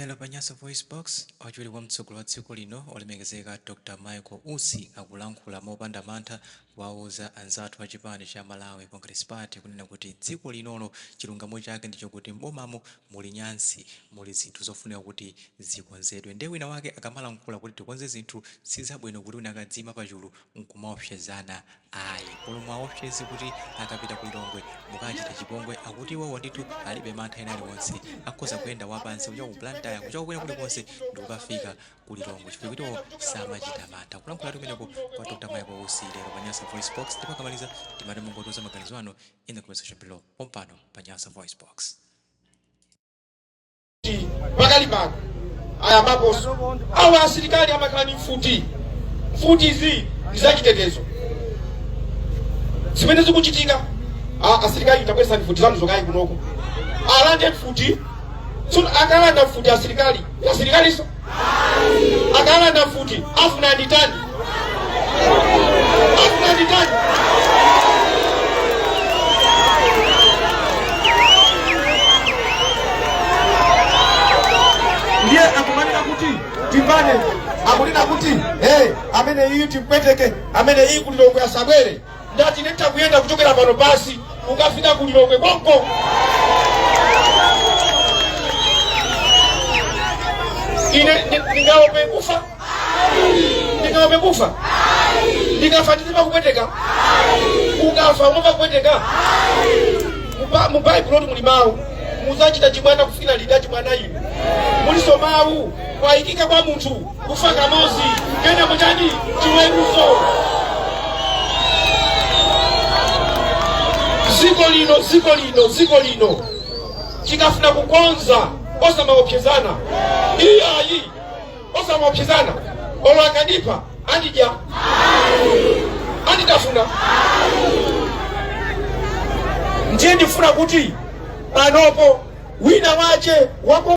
Lero pa Nyasa VoiceBox, wachiwiri kwa mtsogoleri wa dziko lino olemekezeka Dr Michael Usi akulankhula mopanda mantha kuwauza anzathu a chipani cha Malawi Congress Party kunena kuti dziko linolo chilungamo chake ndi chokuti m'bomamo muli nyansi, muli zinthu zofunika kuti zikonzedwe nde wina wake akamalankhula kuti tikonze zinthu sizabwino kuti wina akadziima pachulu nkumaopsezana Ayi. Olo muwaopseze kuti akapita ku Lilongwe mukawachita chipongwe akuti iwowo ndithu alibe mantha ena aliwonse. Akhoza kuyenda wapansi kuchoka ku Blantyre, kuchoka kwina kulikonse ndikukafika ku Lilongwe chifukwa kuti iwowo samachita mantha. Kulankhulatu kumeneko kwa Dr Michael Usi lero pa Nyasa VoiceBox ndipo akamaliza timati mungotiuza maganizo anu in the comment section below pompano pa Nyasa VoiceBox. kuti pakali pano ayambaponso awa asilikali amakhala ndi mfuti mfutizi ndi zachitetezo zimene zikuchitika a- asilikali tabwesa mfuti zanu zokayi kunoko alande mfuti tsono akalanda mfuti asilikali asilikaliso akalanda mfuti afuna nditani afuna nditani ndiye akumanena kuti timbane akunena kuti hey, amene uyu timpweteke amene uyu ku Lilongwe asabwere ndati nditha kuyenda kuchokera pano pansi kukafika ku Lilongwe konko ine ndi- ndingaope kufa ndingaope kufa ndikafa ndizimva kupweteka ukafa umamva kupweteka Muba- mu baibulo ndi muli mawu muzachita chibwana kufikira liti chibwana inu muliso mawu kwayikika kwa munthu kufa kamozi kenako chani chiweruzo ziko lino ziko lino ziko lino tikafuna kukonza osamaopsezana iyayi osamaopsezana olo akandipha andidya anditafuna ndiye ndifuna kuti panopo wina wache wako